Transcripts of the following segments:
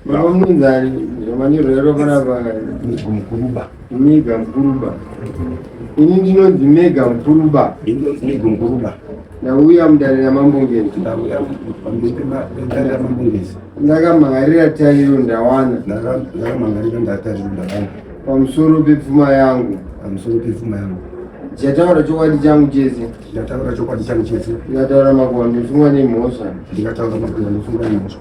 Mamunzani zvamanyorwa yaro panapa mega mukuruba. Mega mukuruba. Ini ndinonzi mega mukuruba. Ndinonzi mega mukuruba. Ndauya mudare ramambongezi. Ndauya mudare ramambongezi. Ndakamangarira tariro ndawana. Ndakamangarira ndatariro ndawana. Pamusoro pepfuma yangu. Pamusoro pepfuma yangu. Ndichataura chokwadi changu chese. Ndichataura chokwadi changu chese. Ndikataura makuva ndosungwa nemhosva. Ndikataura makuva ndosungwa nemhosva.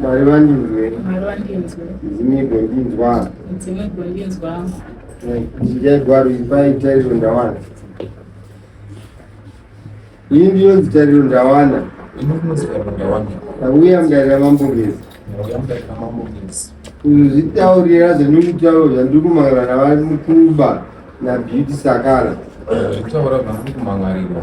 Mwari vandinzwe. Mwari vandinzwe. Midzimu igondinzwa. Midzimu igondinzwa. Ndinjai gwaro iri pai tariro ndawana. Iyi ndiyo nzitariro ndawana. Ndauya mudarira mambo ngezi. Ndauya mudarira mambo ngezi. Kuzvitaurira zvandiri kutaura zvandiri kumangana navari mukuba naBeauty Sakala. Zvekutaura zvandiri kumangarirwa.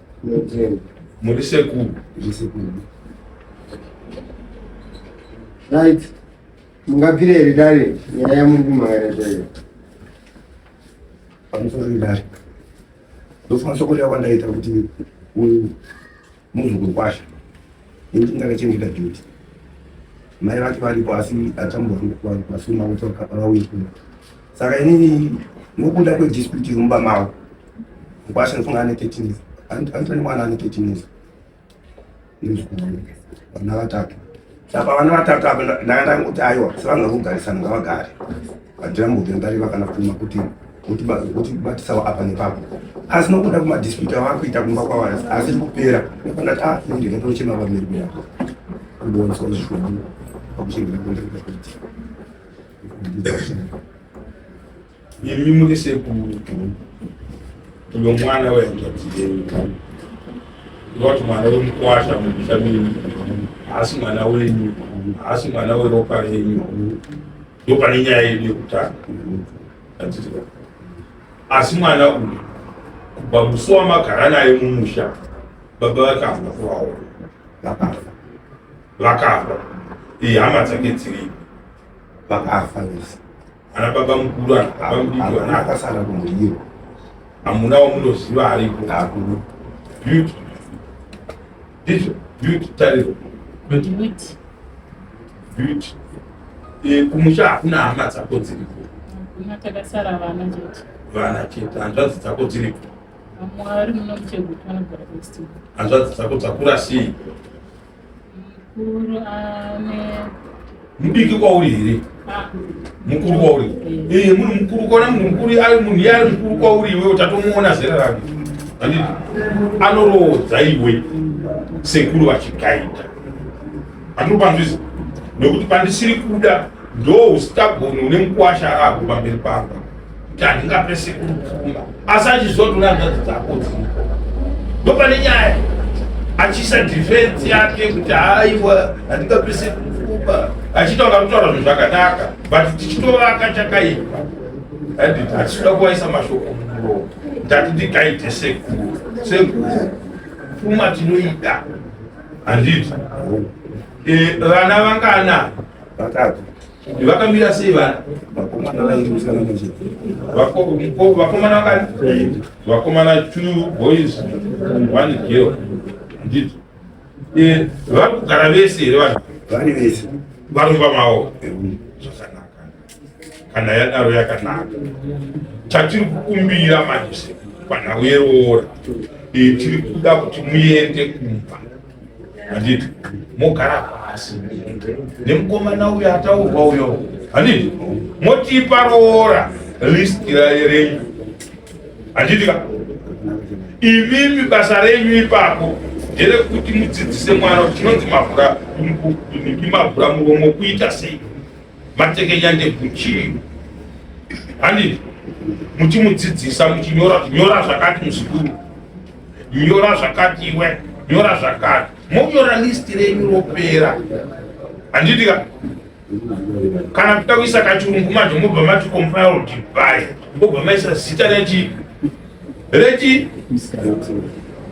muri sekuru right mungabvire here dare nyaya yamuri kumhangana zvaiyo pamusoro idare ndofana soko rava ndaita kuti uyu muzukuru kwasha ini ndingakachengeta duty mai vake varipo asi atambura vasuma kuti vauye kuno saka inini nokuda kwedispute iri mumba mavo mkwasha ndofunga ane 13 years andito nemwana ane 13 years vana vatatu saka vana vatatu apa ndakatanga kuti aiwa sevanhu vakugarisana ngavagare vadira mbuti ndari vakana kutuma kuti kuti batisawo apa nepapo asi nokuda kumadispute avava kuita kumba kwavo asiri kupera nefandati a ah, ndinotochema vamiri kuya kuboniswa zvishomu pakuchengeta kuenda kuita kuitika Imi muri sekuru uyo mwana wehanzvadzi yenyu ndoti mwana wemukwasha mumusha menyu haasi mwana wenyu haasi mwana weropa renyu ndo pane nyaya yedu yekutanga asi mwana uyu kubva musi wamagara naye mumusha baba vakafa kuvaona vakafa vakafa ihama dzake dziripo vakafa vese ana baba mukuru ana baba mudiki ana akasara kumudiro hamuna wamunoziva ariko hakuru beauty ndizvo beauty tariro beauty beauty eh, kumusha hakuna hama dzako dziriko hakuna takasara vana chete vana chete hanzvadzi dzako dziriko mwari munomuchegutwa anogara hanzvadzi dzako dzakura sei Mukuru ane mudiki kwauri here ah. mukuru kwauri ee eh, munhu mukuru kwaona munhu mukuru ari munhu iye ari mukuru kwauri iwe utatomuona zera rake anditi anoroodza iwe sekuru vachigaita andiri panzwizi nekuti pandisiri kuda ndo ustaboni une mukwasha arago pamberi pamba kuti handingape sekuru pfuma asi achizotora hanzvadzi dzako dziriko ndopane nyaya achiisa defense yake kuti haiwa handingape sekuru pfuma achitaura kutaura zvinhu zvakanaka but tichitovaka chakaipa handiti hatitoda kuvaisa mashoko mumuro ndati ndikaite sekuru sekuru pfuma tinoida handiti eh, vana vangana vatatu Vakamira sei vana? Vakomana vairi musikana manje. Vako vakomana vakati vakomana two boys one girl. Ndizvo. Eh, vari kugara vese here vanhu? Vari vese. Vari pamawo. Zvakanaka. Kana yadaro yakanaka. Chatiri kukumbira manje panhau yeroora. Eh, tiri kuda kuti muende kumba. handiti mogara pasi nemukomana uyo ataurwa uyo handiti motipa roora list renyu handiti ka imimi basa renyu ipapo nderekuti mudzidzise mwana kuti chinonzi mavhura ndimavhura muromo kuita sei matekenya ndekuchii handiti muchimudzidzisa muchinyora nyora zvakati muzukuru nyora zvakati iwe nyora zvakati monyora listi renyu ropera handitika kana kuita kuisa kachirungu manje mobva mati compiled by mobva maisa zita rechi rechi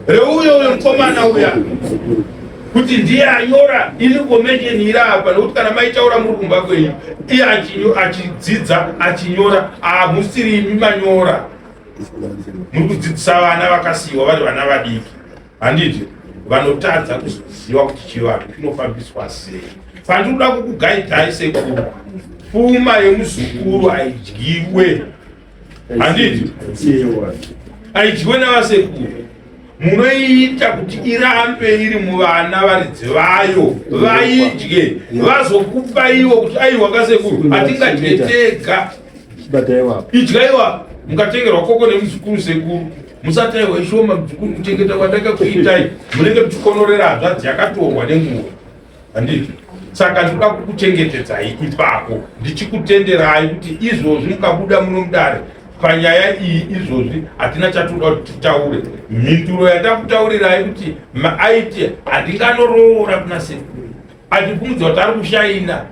reuyo uyo mukomana uya kuti ndiye anyora ini komecheni iri apa nokuti kana maitaura muri kumba kwenyu iye achidzidza achinyora hamusiri imi manyora muri kudzidzisa vana vakasiyiwa vari vana vadiki handiti vanotadza kuzoziva kuti chivanhu chinofambiswa sei pandiri kuda kukugaidhai sekuru pfuma yemuzukuru haidyiwe handiti haidyiwe navasekuru munoiita kuti irambe iri muvana varidzi vayo vaidye vazokupaiwo kuti aiwa kasekuru hatingadye tega idyaiwa mukatengerwa koko nemuzukuru sekuru musataiwa ishoma muzukuru kuchengeta kwandaka kuitai munenge muchikonorera hanzvadzi yakatorwa nenguva handiti saka ndinoda kukuchengetedzai ipako ndichikutenderai kuti izvozvi mukabuda muno mudare panyaya iyi izvozvi hatina chatoda kuti titaure mhinduro yatakutaurirai kuti maaiti handinganoroora kuna sekuru Achibvunza kuti ari kushaina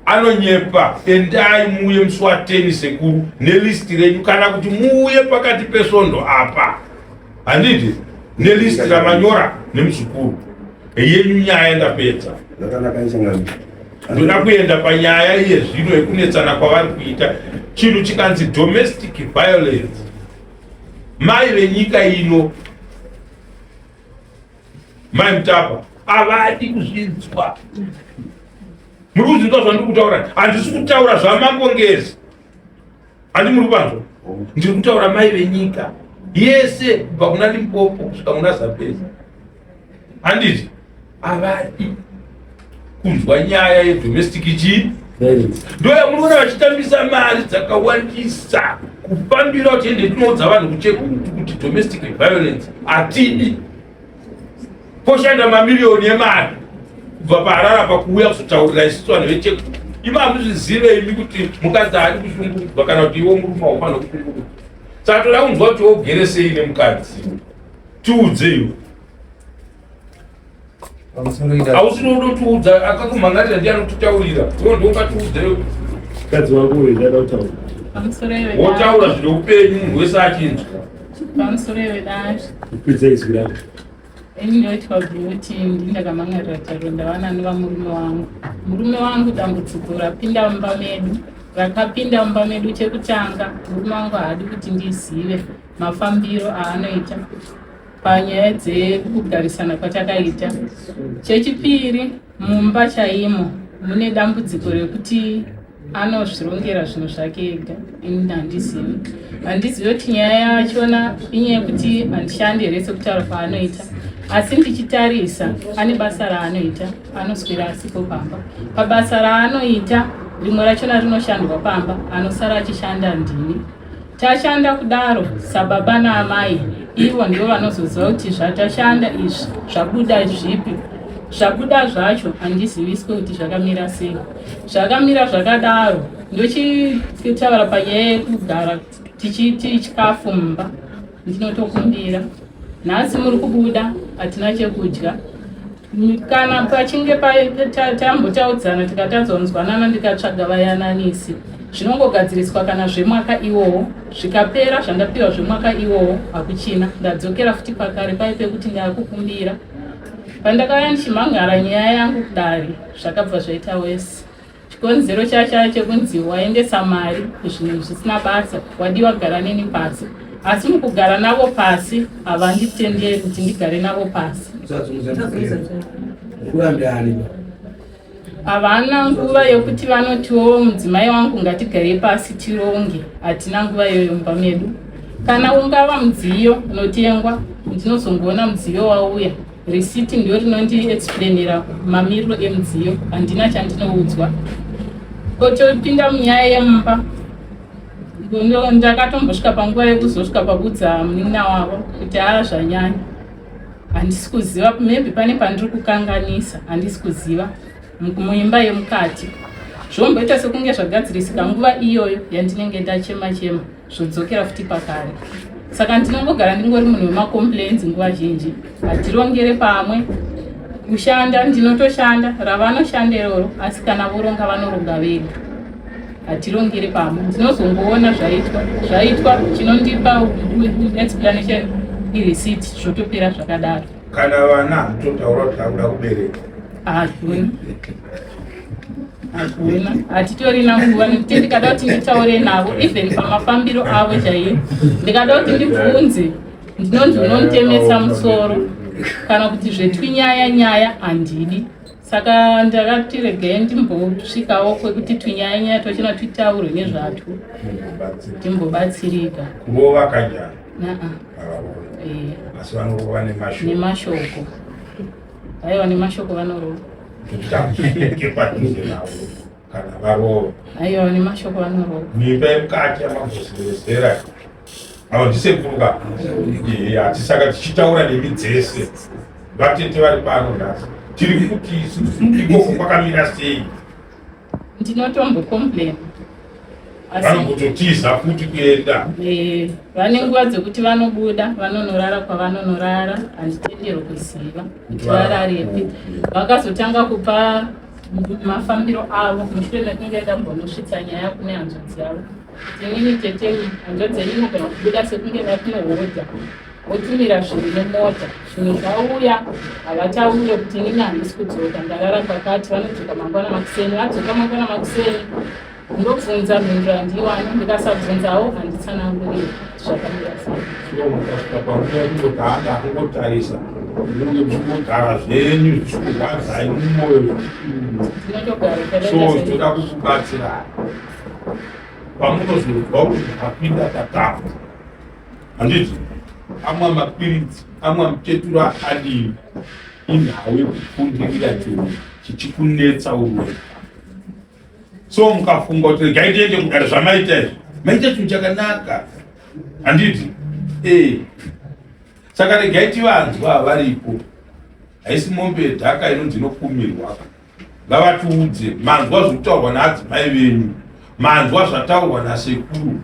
anonyepa endai muuye musi wateni sekuru nelisti renyu kana kuti muuye pakati pesvondo apa handiti nelisti ramanyora nemuzukuru yenyu nyaya ndapedza ndoda kuenda panyaya iye zvino yekunetsana kwavari kuita chinhu chikanzi domestic violence mai venyika ino Mai Mutapa avadi kuzvinzwa. Muri kuzvinzwa zvandiri kutaura? Handisi kutaura zvamangongezi. Handi muri kuvanzwa? Ndiri kutaura mai venyika yese kubva kuna Limpopo kusvika kuna Zambezi. Handiti avadi kunzwa nyaya yedomestic chii ndoyamunoona vachitambisa mari dzakawandisa kufambira kuti ende tinoudza vanhu kuchekurutu kuti domestic violence hatidi poshanda mamiriyoni emari kubva paharara pakuuya kuzotaurira isisu vanhu vechekuru imi hamuzvizive imi kuti mukadzi haadi kushungurudzwa kana kuti iwo murume haufanira kushungurudzwa saka toda kunzwa kuti wogere sei nemukadzi tiudzeiwo hausi nodotiudza akakumhangarira ndiye anokutaurira iwo ndokatiudza yo kadzi wako uyu ndada kutaura wotaura zvine upenyu munhu wese achinzwa pamusoro iwe dai kupidza izwi rako ini ndoitwa bhuti ndindakamhangarira taro ndawana nova murume wangu murume wangu dambudziko rapinda mumba medu rakapinda mumba medu chekutanga murume wangu haadi kuti ndizive mafambiro aanoita panyaya dzekugarisana kwatakaita. Chechipiri, mumba chaimo mune dambudziko rekuti anozvirongera zvinhu zvake ega ini handizivi handizivi kuti nyaya yachona inyaya yekuti handishandi here sekutaura kwaanoita asi ndichitarisa ane basa raanoita anoswera asipo pamba pabasa raanoita rimwe rachona rinoshandwa pamba anosara achishanda ndini Tashanda kudaro sababa naamai ivo ndivo vanozoziva kuti zvatashanda izvi zvabuda zvipi zvabuda zvacho handiziviswe kuti zvakamira sei zvakamira zvakadaro ndochitaura panyaya yekugara tichiiti chikafu mumba ndinotokumbira Nhasi muri kubuda hatina chekudya kana pachinge tambotaudzana tikatadza kunzwanana ndikatsvaga vayananisi zvinongogadziriswa kana zvemwaka iwowo zvikapera zvandapiwa zvemwaka iwowo hakuchina ndadzokera futi pakare pai pekuti ndakukumbira pandakauya ndichimhan'ara nyaya yangu kudari zvakabva zvaita wese chikonzero chacha chekunzi waendesa mari kuzvinhu zvisina basa wadiwa gara neni pasi asi mukugara navo pasi havanditenderi kuti ndigare navo pasi havana nguva yokuti vanotiwo mudzimai wangu ngatigare pasi tironge hatina nguva iyoyo mumba medu kana ungava mudziyo unotengwa ndinozongoona mudziyo wauya Risiti ndiyo rinondi explainira mamiriro emudziyo, handina chandinoudzwa. Kotopinda munyaya yemumba ndakatombosvika panguva yekuzosvika pakudza munin'ina wavo kuti haa zvanyanya handisi kuziva maybe pane pandiri kukanganisa handisi kuziva muimba yemukati zvomboita sekunge zvagadzirisika nguva iyoyo yandinenge ndachema chema zvodzokera futi pakare saka ndinongogara ndingori munhu wemacomplains nguva zhinji hatirongere pamwe kushanda ndinotoshanda ravanoshanda iroro asi kana voronga vanoronga vega hatirongere pamwe ndinozongoona zvaitwa zvaitwa chinondipa explanation ireceipt zvotopera zvakadaro kana vana totaura kuti akuda kubereka hakuna hatitorina nguva nekuti ndikada kuti nditaure navo even pamafambiro avo chaiyo ndikada kuti ndibvunze ndinonzi unonditemesa musoro kana kuti zvetwinyaya nyaya handidi saka ndakati regai ndimbosvikawo kwekuti twinyaya nyaya tochina twitaurwe nezvatwo ndimbobatsirika nevakanyara eh. asi vanova nemashoko Aiwa nemashoko vanorowa. Tutamushike padhuze navo kana varowa. Aiwa nemashoko vanorowa. Nyika yemukati yamagozerezera avo ndisekuru ka hatisaka tichitaura nemi dzese vatete vari pano nhasi tiri kuti ikoko kwakamira sei ndinotombo complain vanokutotiza futi kuenda eh, vane nguva dzekuti vanobuda vanonorara kwavanonorara handitenderwo kuziva kuti vararepi vakazotanga kupa mafambiro avo mushure mekunge ndambonosvitsa nyaya kune hanzvadzi yavo tinini tete hanzvadzi yenyu kana kubuda sekunge vakunohodha votumira zvinhu nemota zvinhu zvauya havataure kuti inini handisi kudzoka ndarara pakati vanodzoka mangwana makuseni vadzoka mangwana makuseni ndobvunza mhinduro handiiwani ndikasabvunzawo handitsanangurire zvakamira seiaaakutarisa munge muchigara zvenyu zvichikurwadzai mumoyo so toda kukubatsirai pamunozonzwa kuti ndakapinda tatamba handiti amwa mapiritsi amwa muchetura akadini inhau yekufundirira chiro chichikunetsa uwe so mukafunga kuti regai tiende kudare zvamaita izvo maita chinhu chakanaka handiti ee saka regai tivanzwa varipo haisi mombe yedhaka inonzi inokumirwa ngavatiudze manzwa zvokutaurwa naadzimai venyu manzwa zvataurwa nasekuru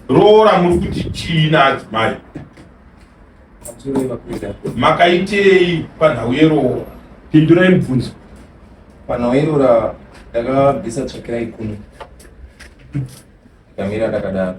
roora muri kuti chii naadzimai makaitei panhau yeroora pindurai mubvunzo panhau yeroora ndakabvisa tsvakira ikumi ndikamira ndakadaro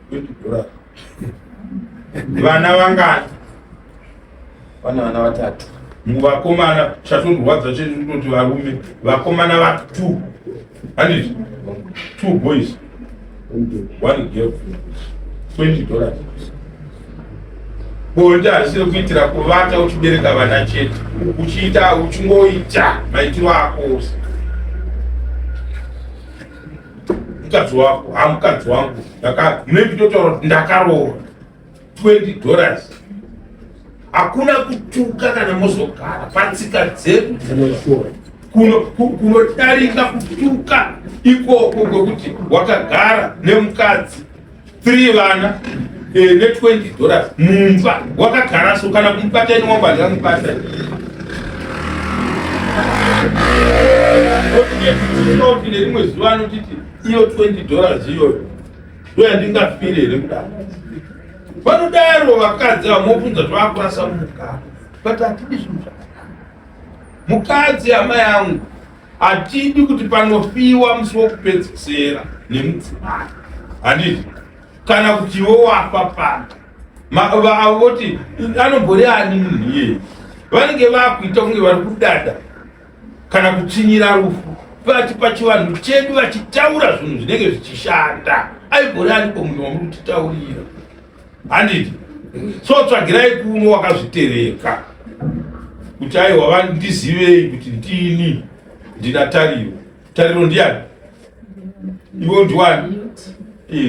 vana vangani vana vana vatatu muvakomana chatondirwadza chete ndinoti varume vakomana va two handiti two boys one girl twenty dollars bonde hazisiri kuitira kuvata uchibereka vana chete uchiita uchingoita maitiro ako ose mukadzi wako ha mukadzi wangu maybe totaura kuti ndakaroora 20 dollars hakuna kutuka kana mozogara patsika dzedu kunodarika kutuka ikoko kwekuti wakagara nemukadzi 3 vana eh, ne 20 dollars mumba wakagara so kana kumubata ini wamba ndamubata oti nerimwe zuva anotiti iyo 20 dollars iyoyo ndoyandingafire here kudaro vanodaro vakadzi vamobvunza zvavakurasa mumukaro but hatidi zvinhu zvakanaka mukadzi amai angu Hatidi kuti panofiwa musi wokupedzisera nemudzimai, handiti? Kana kuti iwe wafa pano, avo voti anombori ani munhu iyeye, vanenge vakuita kunge vari kudada kana kutsinyira rufu vati pachivanhu chedu vachitaura zvinhu zvinenge zvichishanda aigori aniko munhu wamuri kutitaurira handiti so tsvagirai kumwe wakazvitereka kuti aiwa vandizivei kuti ndini ndina tariro tariro ndiyani iwe ndiwani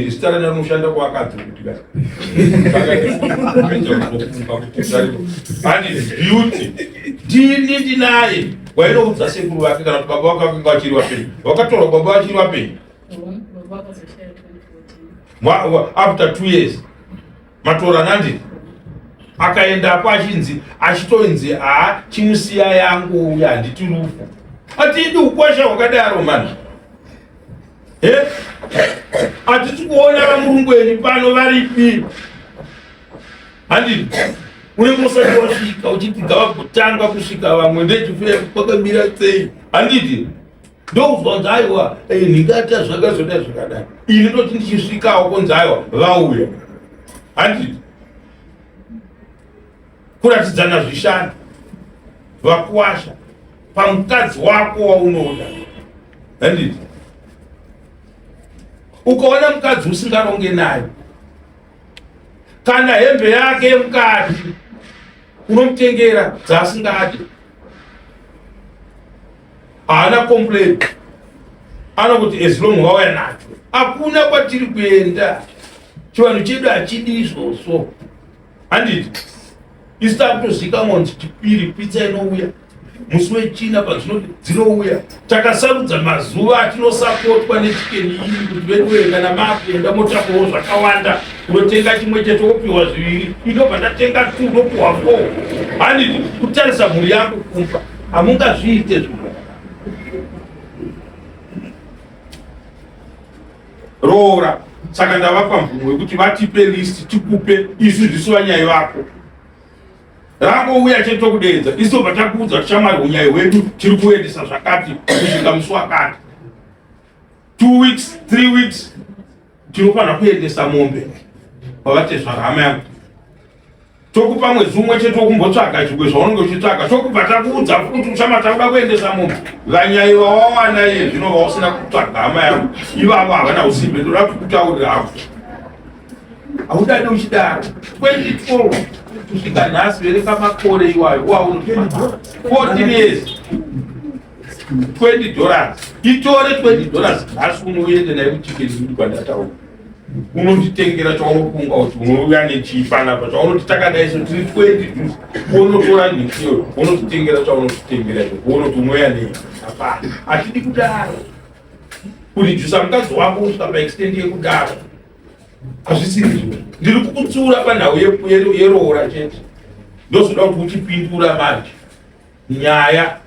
zita rani rinoshanda kwakadzi kuti beauty ndini ndinaye wainoudza sekuru vake kana kuti baba vake vakanga vachiri vapenyu wakatorwa baba vachiri vapenyu after two years matora nandi akaendako achinzi achitoinzi haa chimusiya yangu uya handiti rufu atidi ukwasha hwakadaro mani hatisi kuona vamurungweni pano varipi handi unenge usati wasvika uchiti gava kutanga kusvika vamwe ndechifuya kwakamira sei handiti ndokunzwa kunzi aiwa eh, ndingata zvakazoda zvakadai ini ndoti ndichisvikawo kunzi aiwa vauya handiti kuratidzana zvishanda vakuwasha pamukadzi wako waunoda handiti ukaona mukadzi usingaronge naye kana hembe yake yemukati unomutengera dzaasingadi haana complain anokuti as long vauya nacho hakuna kwatiri kuenda chivanhu chedu hachidi izvozvo handiti isu takutozivikamwa kuti chipiri pitsa inouya musi wechina pazvino dzinouya takasarudza mazuva atinosapotwa nechikeni iri kuti veduwe kana makuenda motapawo zvakawanda unotenga chimwe chete wopiwa zviviri inobva ndatenga tu unopiwa fo handiti kutarisa mhuri yako kumba hamungazviite zvimwe roora saka ndavapa mvumo yekuti vatipe listi tikupe isu zvisu vanyai vako rangouya chete tokudeedza isu vatakuudza tichamwari unyai hwedu tiri kuendesa zvakati kusvika musi wakati two weeks three weeks tinofanira kuendesa mombe kwavatezvara hama yangu tokupa mwedzi umwe chete wokumbotsvaga chigwe zvaunenge uchitsvaga tokubva takuudza kuti uchama takuda kuendesa mombe vanyai vawawana iye zvino vausina kutsvaga hama yangu ivavo havana usimbe ndoda kuti kutaurira havo haudade uchidaro 2012 kusvika nhasi vereka makore iwayo wauno 14 years 20 dollars itore 20 dollars nhasi uno uende naye kuchicken kuti kwandataura unonditengera chaunofunga kuti unouya nechiipanapa chaunoti takadaiso tiri 20 unotora nhisiyo unotitengera chaunotitengera unoti unouya nei hapana hatidi kudaro kurijusa mukadzi wako kusvika paextendi yekudaro hazvisiri zvo ndiri kukutsiura panhau yeroora chete ndozoda kuti uchipindura manje nyaya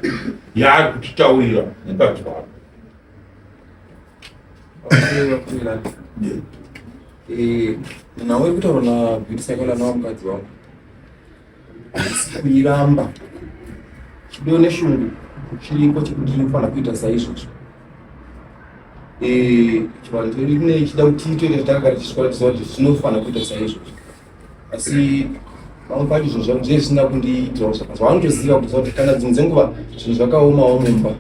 yaari kutitaurira mukadzi wako eh, nawe kutaura na beauty cycle nawa mukadzi wako kuiramba chido neshungu chiriko chekuti inofanira kuita saizvozvo eh, chivanhu chedu kune chida kuti tiite takagara tichikora tiziva kuti zvinofanira kuita saizvozvo asi vamwe pacho zvinhu zvangu zviye zvisina kundiitirawo zvakanzi vanotoziva kuziva kuti kana dzimwe dzenguva zvinhu zvakaomawo mumba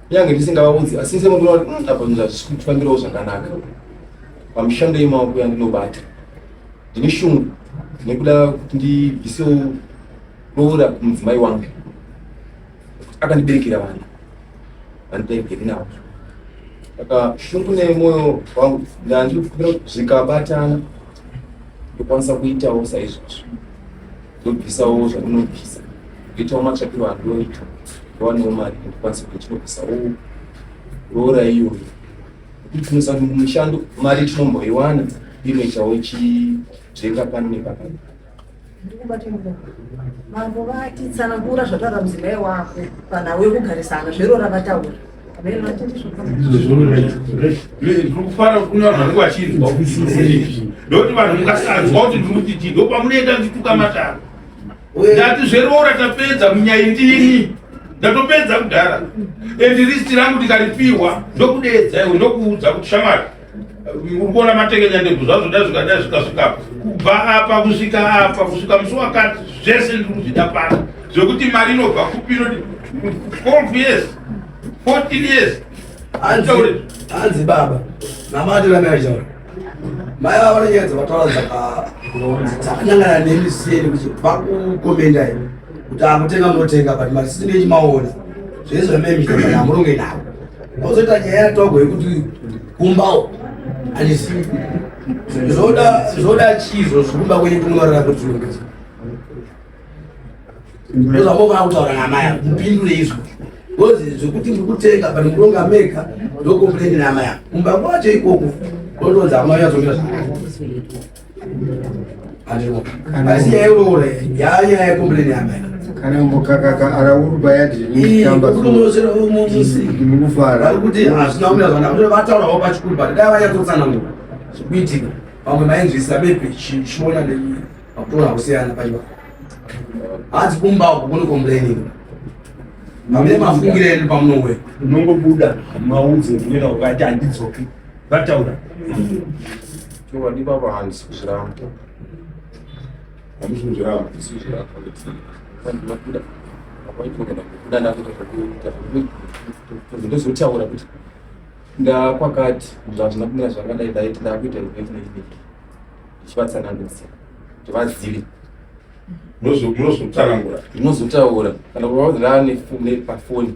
kunyange ndisingavaudzi asi ndisemuona kuti hmm, apa zvinhu hazvisi kufambirawo zvakanaka pamishando yemaoko yandinobata ndine shungu nekuda kuti ndibvisewo roora kumudzimai wangu akandiberekera vana vandiberekeri navo saka shungu nemoyo wangu ndandikufira kuti zvikabatana ndokwanisa kuitawo saizvozvo ndobvisawo zvandinobvisa ndoitawo matsvakiro andoita ndowanewo mari ndokwanisa kuti ndinobvisawo roora iyoyo kuti tinosa mushando mari tinomboiwana inoitawo chidzenga pano nepakati ndikubate muno mambo vati tsanangura zvataura mudzimai wako kana wekugarisana zverora vataura ndikufara kunyora vanenge vachinzwa ndokuti vanhu mukasanzwa kuti ndikuti chii ndo pamunoenda ndituka mataro ndati zveroora tapedza munyai ndini ndatopedza kudhara and risti rangu ndikaripiwa ndokudeedza iwe ndokuudza kuti shamwari ukuona matekenya ndebvu zvazvo dai zvikadai zvikasvika kubva apa kusvika apa kusvika musi wakati zvese ndiri kuzvida pano zvekuti mari inobva kupi inoti twelve years fourteen years hanzi baba namatiramai achitaura mai vava vanonyadza vataura dzakanyangana nemi siyeni kuti vakukomenda ivo kuti akutenga munotenga but mari sisi ndechimaona zvese zvamemita kana amuronge navo Kozoita nyaya yatogwa yekuti kumbawo handisi zvoda zvoda chizvo zvikumba kwenyu kunorara kuti ndozvambofana kutaura namai yangu mupindure izvo kozi zvekuti ndiri kutenga but ndikuronga mega ndokomplaini namai yangu kumba kwacho ikoko kotonzi amai yazomira kana mukakaka araurwa yadimukufara kuti hazvina kumira zvanaa vataurawo pachikuru but dai vanyatotsanangura zvikuitika vamwe vainzvisa bepe chiona pakutora kusiyana paiva hanzi kumba uko kune complaining pamune mafungire edu pamunouwe unongobuda maudze kunena ukati handidzoki Vataura. Chokwadi baba hanzi kuzviramba. Hanzi kuzviramba. Ndinokuda. Ndinokuda ndakuita zvekuita. Ndozotaura kuti ndakwakati zvazvina kumira zvakadai dai ndakuita zvekuita izvi. Ndichivatsanangudza kuti vazive. Ndinozotaura. Ndinozotaura. Kana kuvaudza pafoni.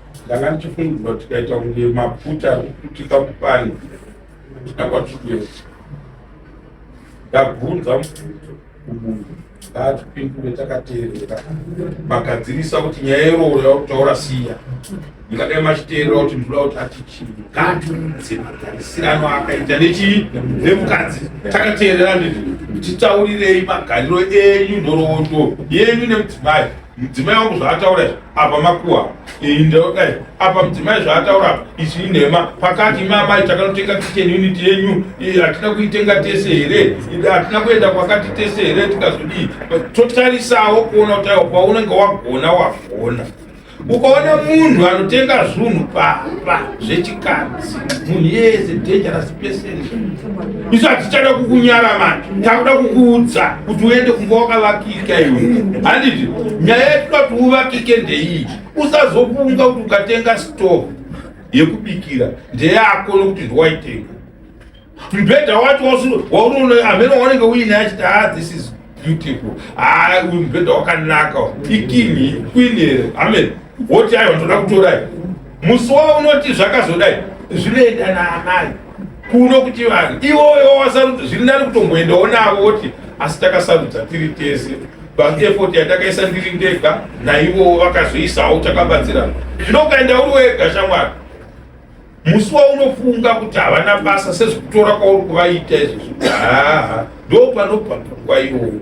ndanga ndichifungidzwa tikaita kunge maputa arikuputika kupani kuputika kwatikuenda ndabvunza mubvunzo kumunhu ngaatipindure takateerera magadzirisa kuti nyaya irowo yakutaura siya ingadai machiteerera kuti ndinoda kuti ati chii ngaatiudze magarisirano akaita nechii nemukadzi takateerera nditi titaurirei magariro enyu nhoroondo yenyu nemudzimai Mudzimai wangu zvaataura izvi apa makuwa iyi ndoka izvi apa mudzimai zvaataura apa izvi inhema pakati mamai takanotenga kitchen unit yenyu hatina kuitenga tese here hatina kuenda kwakati tese here tikazodii totarisawo kuona kuti aiwa paunenge wagona wagona ukaona munhu anotenga zvunhu papa zvechikadzi munhu yese dangerous isu hatichada kukunyara mani takuda kukuudza kuti uende kumba wakavakika iwe handiti nyaya yekuda kuti uvakike ndeiyi usazofunga kuti ukatenga stove yekubikira ndeyako nokuti ndiwaitenga mbhedha wacho waunoona amene waunenge uine achiti ha ah, this is beautiful ah uyu mubhedha wakanaka ikingi queen here amen woti ayi watoda kutorai musi wavo unoti zvakazodai zvinoenda naamai kuno kuti vanhu iwoyo wasarudza zviri nani kutomboendawo navo woti asi takasarudza tiri tese but effort yatakaisa ndiri ndega naivowo vakazoisawo takabatsirana zvino ukaenda uri wega shamwari musi waunofunga kuti havana basa sezvekutora kwauri kuvaita izvozvo haa ndo panobva pfungwa iyoyo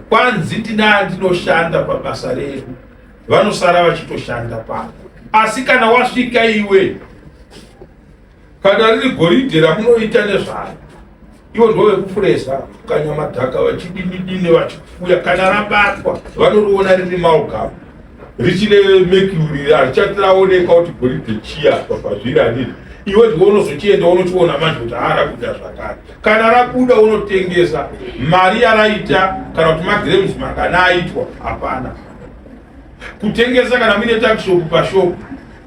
kwanzi ndinaa ndinoshanda pabasa redu vanosara vachitoshanda pano asi kana wasvika iwe kana riri goridhe ramunoita nezvayo ivo ndo vekupuresa kanyamadhaka vachidinidini vachiuya kana rabatwa vanoriona riri maugama richine mekuri harichati raoneka kuti goridhe chiya pazviri haniri iwe ndiwe unozochienda unochiona manje kuti haara kuda zvakare kana rabuda unotengesa mari yaraita kana kuti magrams mangana aitwa hapana kutengesa kana muine takishopu pashopu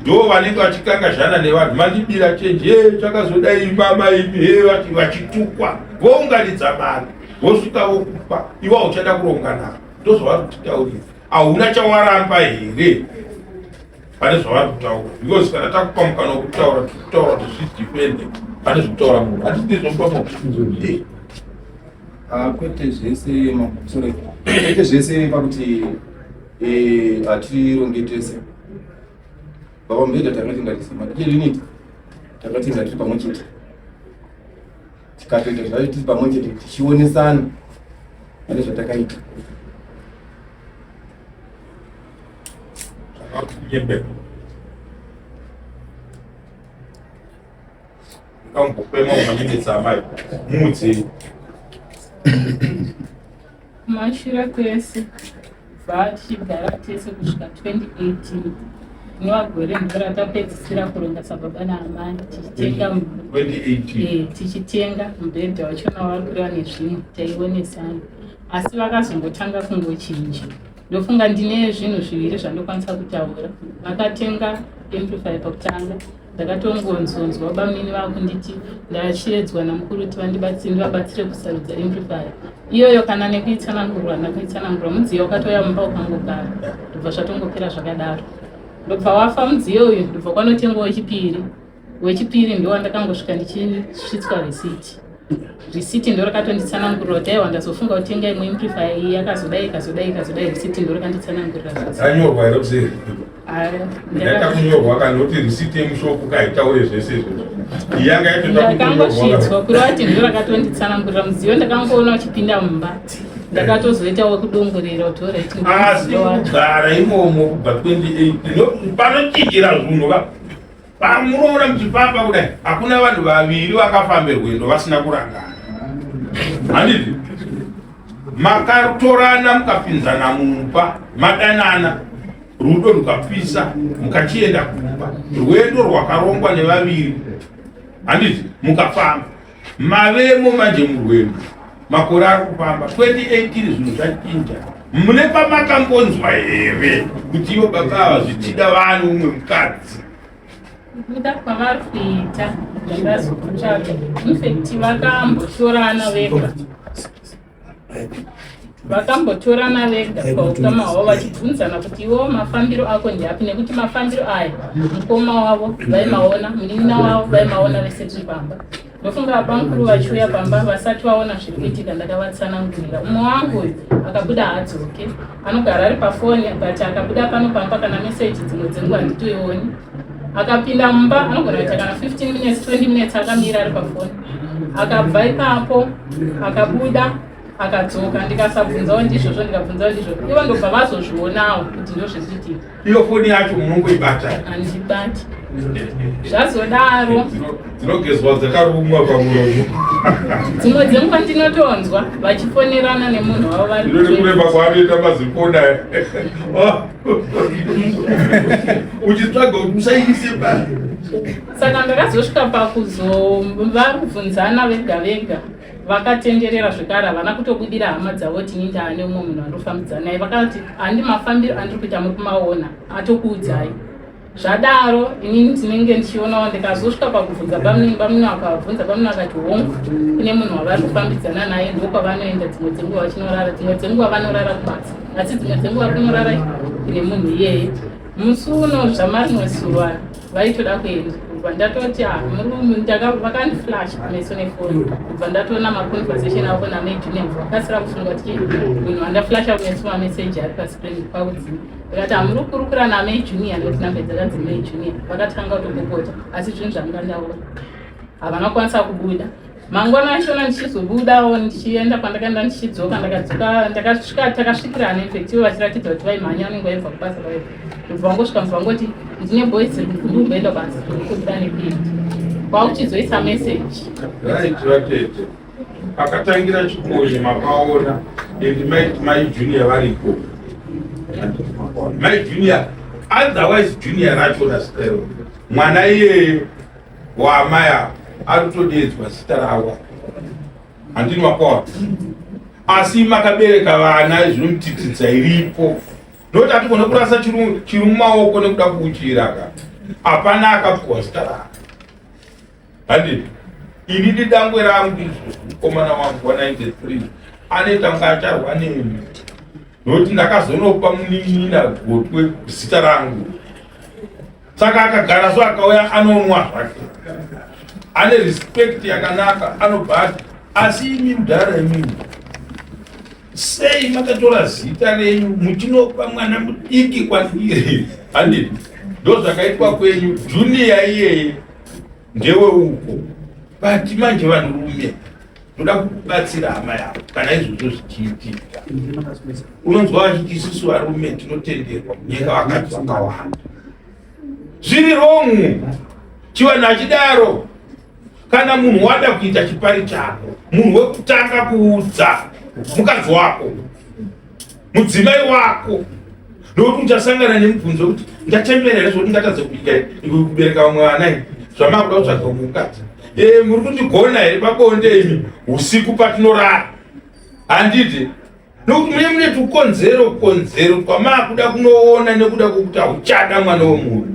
ndo vanenge vachikangazhana nevanhu mandibira chenji e chakazoda imba maimi e vachitukwa vounganidza mari vosvika vokupa iwa uchada kuronga navo ndozvavari kutitaurira hauna chawaramba here pane zvavari kutaura because kana takupa mukana wekutaura tikutaura kuti zvidepende pane zvekutaura munhu hatitizvopa makusunzoi ah, kwete zvese makusore kwete zvese pakuti eh, hatirongete se baba mubhedha takati ndarisima iye riniti takati ndatiri pamwe chete tikatoita zvayo tiri pamwe chete tichionesana pane zvatakaita kamupema unamiditsa amai muudzei Kumashura kwese bva tichigara tese kusvika 2018 rinova gore ndiro ratapedzisira kuronga sababa naamai tichitenga mu- 2018 Eh, tichitenga mubhedha wacho nawakureva nezvinhu taionesana asi vakazongotanga kungochinja ndofunga ndine zvinhu zviviri zvandokwanisa kutaura vakatenga amplifier pakutanga ndakatongonzonzwa bamini vakunditi ndachiedzwa namukuru kuti vandibatsire ndivabatsire kusarudza amplifier iyoyo kana nekuitsanangurwa ndakuitsanangurwa mudziyo wakatouya mumba ukangogara ndobva zvatongopera zvakadaro ndobva wafa mudziyo uyu ndobva kwanotengwa wechipiri wechipiri ndowandakangosvika ndichisvitswa resiti risiti ndo rakatonditsanangurira kuti aiwa ndazofunga kuti inga imwe imprifa iyi yakazodai ikazodai ikazodai risiti ndo rakanditsanangurira anyorwa here kuseri yakakunyorwa kana kuti risiti yemushoko kaitaure zvese izvozvo yanga yatondakangosvitswa kureva kuti ndo rakatonditsanangurira mudziyo ndakangoona uchipinda mumba ndakatozoita wekudongorera kuti oraitasi kugara imomo kubva 28 panochinjira zvunhu ka Pamunoona muchifamba kudai hakuna vanhu vaviri vakafambe rwendo vasina kurangana. Handiti? Makatorana mukapinzana mumba madanana rudo rukapisa mukachienda kumba rwendo rwakarongwa nevaviri handiti mukafamba mavemo manje murwendo makore ari kufamba 2018 zvinhu zvachinja mune pamakambonzwa here kuti ivo baba ava zvichida vanhu umwe mukadzi kuda kwavari kuita zvakazokutsvaga infekti vakamboshorana vega vakambotorana vega paukama hwavo vachibvunzana kuti iwo mafambiro ako ndiapi nekuti mafambiro aya mukoma wavo vaimaona munin'ina wavo vaimaona vese tiri pamba ndofunga abamukuru vachiuya pamba vasati vaona zviri kuitika ndakavatsanangurira umwe wangu uyu akabuda haadzoke anogara ari pafoni but akabuda pano pamba kana meseji dzimwe dzenguva handitoioni akapinda mumba anogona kuita kana 15 minutes 20 minutes akamira ari pafoni akabva ipapo akabuda akadzoka ndikasabvunzawo ndizvozvo ndikabvunzawo ndizvozvo ivo ndobva vazozvionawo kuti ndozvizvitika iyo foni yacho munongoibata handibati zvazodaro dzinogezwa dzakarumwa pamuromo dzimwe dzenguva ndinotonzwa vachifonerana nemunhu wavo varikureva kwaanoita mazikona uchitsvaga kuti musaise pa saka ndakazosvika pakuzovabvunzana vega vega vakatenderera zvekare havana kutobudira hama dzavo kuti ini ndaa neumwe munhu andofambidzana naye vakati handi mafambiro andiri kuita muri kumaona atokuudzai zvadaro inini ndinenge ndichionawo ndikazosvika pakubvunza bamunini bamunini akavabvunza bamunini akati hongu kune munhu wavari kufambidzana naye ndokwavanoenda dzimwe dzenguva vachinorara dzimwe dzenguva vanorara kubasa asi dzimwe dzenguva kunorara kune munhu iyeye musi uno zvamarinosuva vaitoda kuenda kubva ndatoti ah, vakandiflash kumeso nefoni kubva ndatoona maconversation avo namai junior vakasira kufunga kuti munhu vandaflasha kumeso mameseji ari pascreen kwakudzima vakati hamuri ah, kukurukura namai junior nekuti nambe dzakanzi mai junior vakatanga kutopopota asi zvinhu zvanga ndaona havana kwanisa kubuda mangwana achona ndichizobudawo ndichienda kwandakaenda ndichidzoka ndakadzoka ndakasvika takasvikirana infect ivo vachiratidza kuti vaimhanya unenge vaibva kubasa kwaivo ndobva vangosvika mva vangoti ndine boys ndikumboenda basa ndikuda nepindi kwakuchizoisa message raitiratete pakatangira chikonye makaona endi maiti mai junior varipo mai junior otherwise junior racho rasikero mwana iyeye waamai ava ari kutodeedzwa zita rawa handini makwawa asi makabereka vana izvinomutitidza iripo noti atigone kurasa chiri mumaoko nekuda kuuchiiraka hapana akapuwa zita raka handii ini didangwe rangu izvo mukomana wangu wa 93 anoita kunga acharwa nemi nokuti ndakazonopa munin'ina gotwe zita rangu saka akagara so akauya anonwa zvake ane respect yakanaka anobva ati asi imi mudhara imimi sei makatora zita renyu muchinopa mwana mudiki kwandiri handiti ndozvakaitwa kwenyu juniya iyeye ndewe uko but manje vanhurume ndoda kukubatsira hama yavo kana izvozvo zvichiitika unonzwa vachiti isusu varume tinotenderwa kunyeka vakadzi vakawanda zviri rongu chivanhu achidaro kana munhu wada kuita chipari chako munhu wekutanga kuudza mukadzi wako mudzimai wako nokuti uchasangana nemubvunzo wekuti ndachembera here zvokuti ndatadza kuita kubereka mwana i zvamakuda kutsvaga kumukadzi e muri kundigona here pabonde imi usiku patinorara handidi nokuti mune mune tukonzero konzero twamaakuda kunoona nekuda kwokuti hauchada mwana wemunhu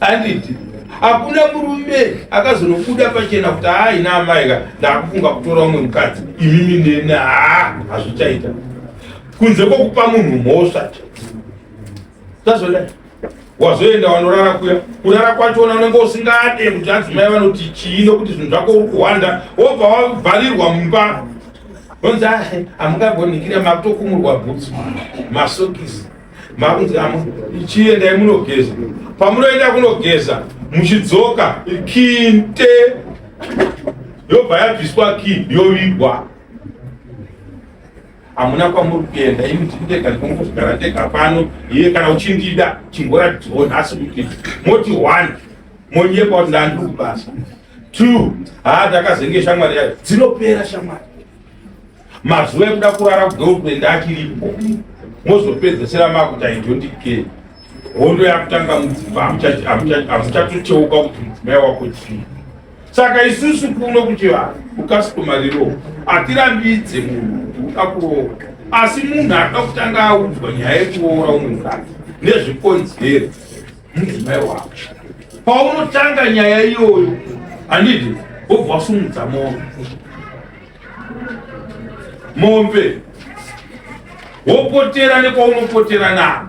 handidi hakuna murume akazonobuda pachena kuti haa ina amaika ndaakufunga kutora umwe mukadzi imimi neni haa hazvichaita kunze kwokupa munhu mhosva tazoda wazoenda wanorara kuya kurara kwachona unenge usingade kuti adzimai vanoti chii nokuti zvinhu zvako uri kuhwanda wobva wavharirwa mumba onzi ah, hamungagonikira makutokumurwa bhutsu masokisi makunzi chiendai munogeza pamunoenda kunogeza muchidzoka kinte yobva yabviswa ki yovigwa hamuna kwamuri kuenda ini ndiri ndega ndikongozvigara ndega pano iye kana uchindida chimboratidzwawo nhasi kuti moti one monyepa kuti ndandiri kubasa two haa ndakazenge shamwari yayo dzinopera shamwari mazuva ekuda kurara kugirlfriend achiripo mozopedzesera makuti aidondikei hondo yakutanga mudzimba hamuchatocheuka kuti mudzimai wako chii Saka isusu kuno kuchivanhu kukasitomariro hatirambidze munhu kuda kuroora, asi munhu anoda kutanga audzwa nyaya yekuroora umwe mukadzi nezvikonzero mudzimai wako. Paunotanga nyaya iyoyo handiti wobva wasumudza mombe mombe wopotera nekwaunopotera navo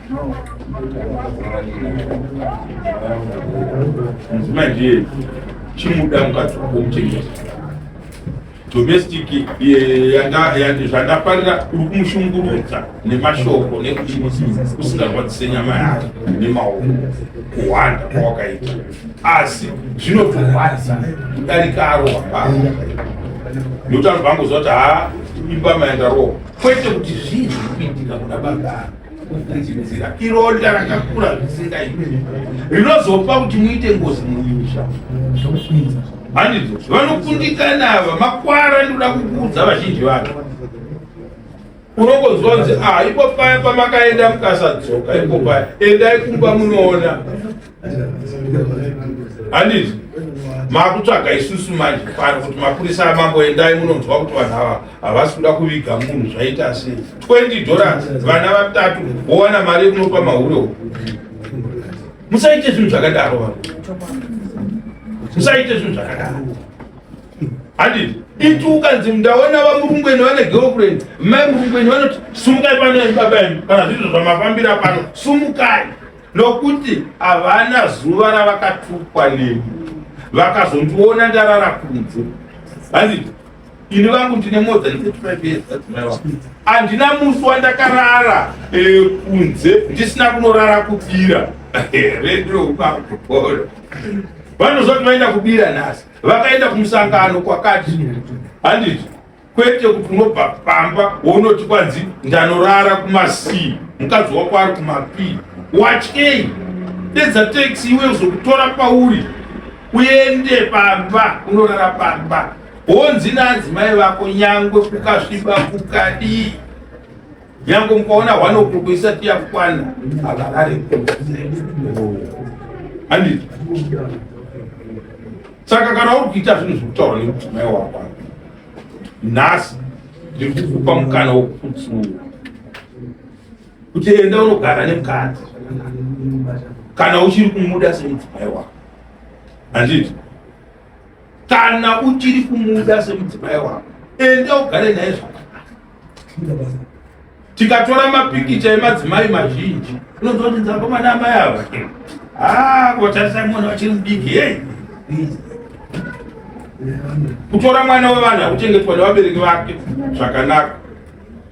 mudzimai ndiye chimuda mukadzi wako muchengeti domestic zvandafarira uri kumushungurudza nemashoko nekuti usingarwadzise nyama yake nemaoko kuhwanda kwawakaita asi zvinotorwadza kudarika arohwa baba nekuti anobva angoziva kuti ha imba maenda rohwa kwete kuti zvinhu kuitika kuda baba kufungidzira ironda rakakura zvisingaiti rinozopa kuti muite ngozi mumusha handidzo vanokundikana ava makwara ndinoda kukuudza vazhinji vacho unongozonzi a ah, ipo paya pamakaenda mukasadzoka ipo paya endai kumba munoona handiti makutsvaga isusu manje pano kuti mapurisa amambo endai munonzwa kuti vanhu ava havasi kuda kuviga munhu zvaita se 20 dollars vana vatatu wowana mari yekunopa mahure uku musaite zvinhu zvakadaro vanhu musaite zvinhu zvakadaro handiti iti ukanzi ndaona vamurungweni vane girlfriend mai murungweni vanoti sumukai pano baba enu kana zviizvo zvamafambira pano sumukai nokuti havana zuva ravakatukwa neni vakazondiona ndarara kunze hanzi ini vangu ndine modza handina musi wandakarara eh, kunze ndisina kunorara kubira redoukakupora vanozoti vaenda kubira nhasi vakaenda kumusangano kwakati handiti kwete kuti unobva pamba wonoti kwanzi ndanorara kumasii mukadzi wako ari kumapii watyei dedza taxi iwe uzokutora pauri uende pamba unorara pamba honzi naadzimai vako nyangwe kukasviba kukadii nyangwe mukaona hwana ukoko isati yakukwana havarare handiti saka kana uri kuita zvinhu zvekutaura nemudzimai wako nhasi ndiri kukupa mukana wekuputsuwa kuti enda unogara nemukadzi kana uchiri kumuda semudzimai wako handiti kana uchiri kumuda semudzimai wako enda ugare naye zvakanaka tikatora mapikicha emadzimai mazhinji unonzwa kuti dzakomana amai ava haa kotarisa mwana vachiri mudiki hei kutora mwana wevanhu akuchengetwa nevabereki vake zvakanaka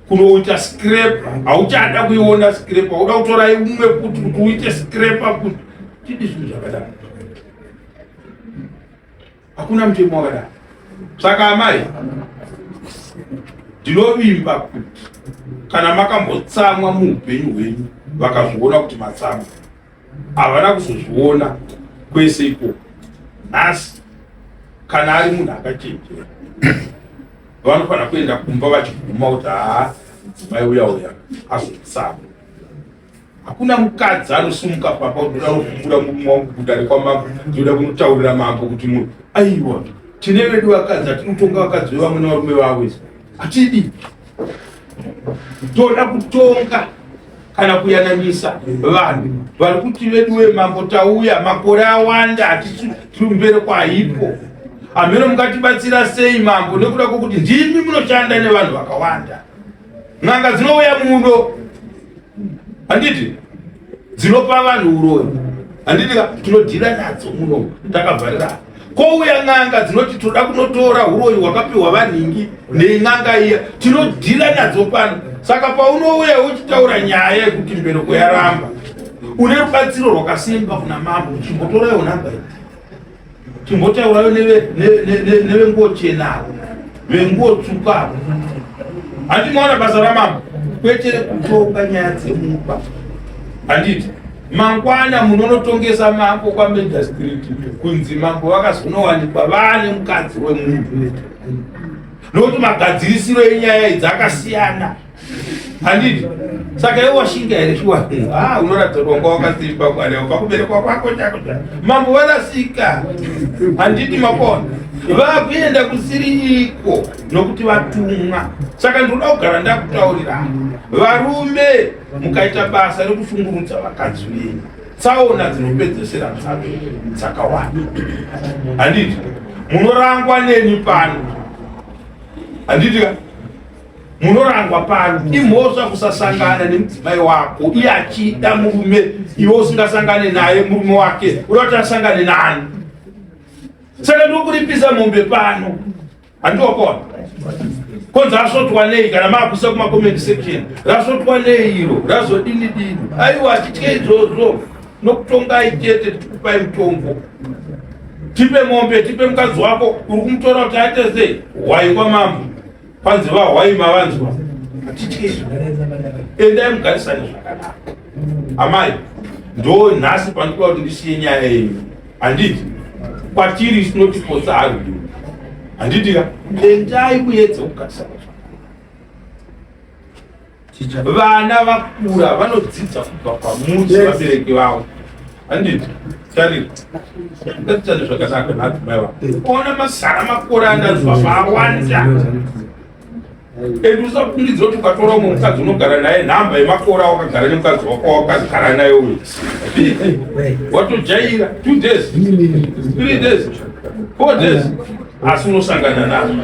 kunoita scrape hauchada kuiona scrape hauda kutora imwe kuti kuti uite scrape kuti tidi zvinhu zvakadaro Hakuna mutemo wakadaro. Saka amai, ndinovimba kuti kana makambotsamwa muupenyu hwenyu vakazviona kuti matsamwa, havana kuzozviona kwese ikoko. Nhasi kana ari munhu akachenjera vanofanira kuenda kumba vachiguma kuti haa mudzimai uya uya azotsamwa hakuna mukadzi anosumuka pamba kuda kuvhura murume wangu kudare kwamambo ndinoda kunotaurira mambo kuti munhu aiwa tine vedu vakadzi hatinotonga vakadzi vevamwe nevarume vavo hatidi toda kutonga kana kuyananisa vanhu vari kuti vedu vemambo tauya makore awanda hatisi tiri kumbere kwaipo hameno mungatibatsira sei mambo nekuda kwokuti ndimi munoshanda nevanhu vakawanda N'anga dzinouya mudo handiti dzinopa vanhu uroyi handiti tinodhira nadzo muno takavharira kouya n'anga dzinoti toda kunotora uroyi hwakapiwa vanhingi nein'anga iya tinodhira nadzo pano saka paunouya uchitaura nyaya yekuti mbereko yaramba une rubatsiro rwakasimba kuna mambo uchimbotorayo nhamba ii Chimbotaurayo nevenguwo chena avo venguwo tsvuku avo handi maona basa ramambo kwete kutonga nyaya dzemumba handiti mangwana munonotongesa mambo kwameda street kunzi mambo vakazonowanikwa vane mukadzi wemunhu nokuti magadzirisiro enyaya idzi akasiyana handiti saka iwe washinga here shuwa ha ah, unoratidza kuti wanga wakasimba kwaleo pakuberekwa kwako chako cha mambo varasika handiti makona vakuenda kusiriiko nokuti vatumwa saka ndinoda kugara ndakutaurira varume mukaita basa rekushungurudza vakadzi venyu tsaona dzinopedzesera dzave dzakawanda handiti munorangwa neni pano handiti ka munorangwa pano imhosva kusasangana nemudzimai wako iye achida murume iwe usingasangane naye murume wake uda kuti asangane nani saka ndokuripisa mombe pano handiokoa konzi asvotwa nei kana maakusa kumacomment section rasvotwa nei iro razodini dini aiwa achitye izvozvo nokutongai chete tikupai mutombo tipe mombe tipe mukadzi wako uri kumutora kuti aite sei waingwa mambo Panzi vahwai mavanzwa hatitizvo endai mugarisane zvakanaka amai ndo nhasi pandikuda kuti ndisiye nyaya yenyu handiti kwatiri sinotipotsa haru handiti ka endai kuyedza kugarisana zvakanaka vana vakura vanodzidza kubva kwamuri sevabereki vavo handiti tarira ndatitane zvakanaka naadzimai vavo ona mazara makore anazwa maawanda and usafungidzira kuti ukatora umwe mukadzi unogara naye nhamba yemakore awakagara nemukadzi wako wakagara naye uyu watojaira two days three days four days asi unosangana nazvo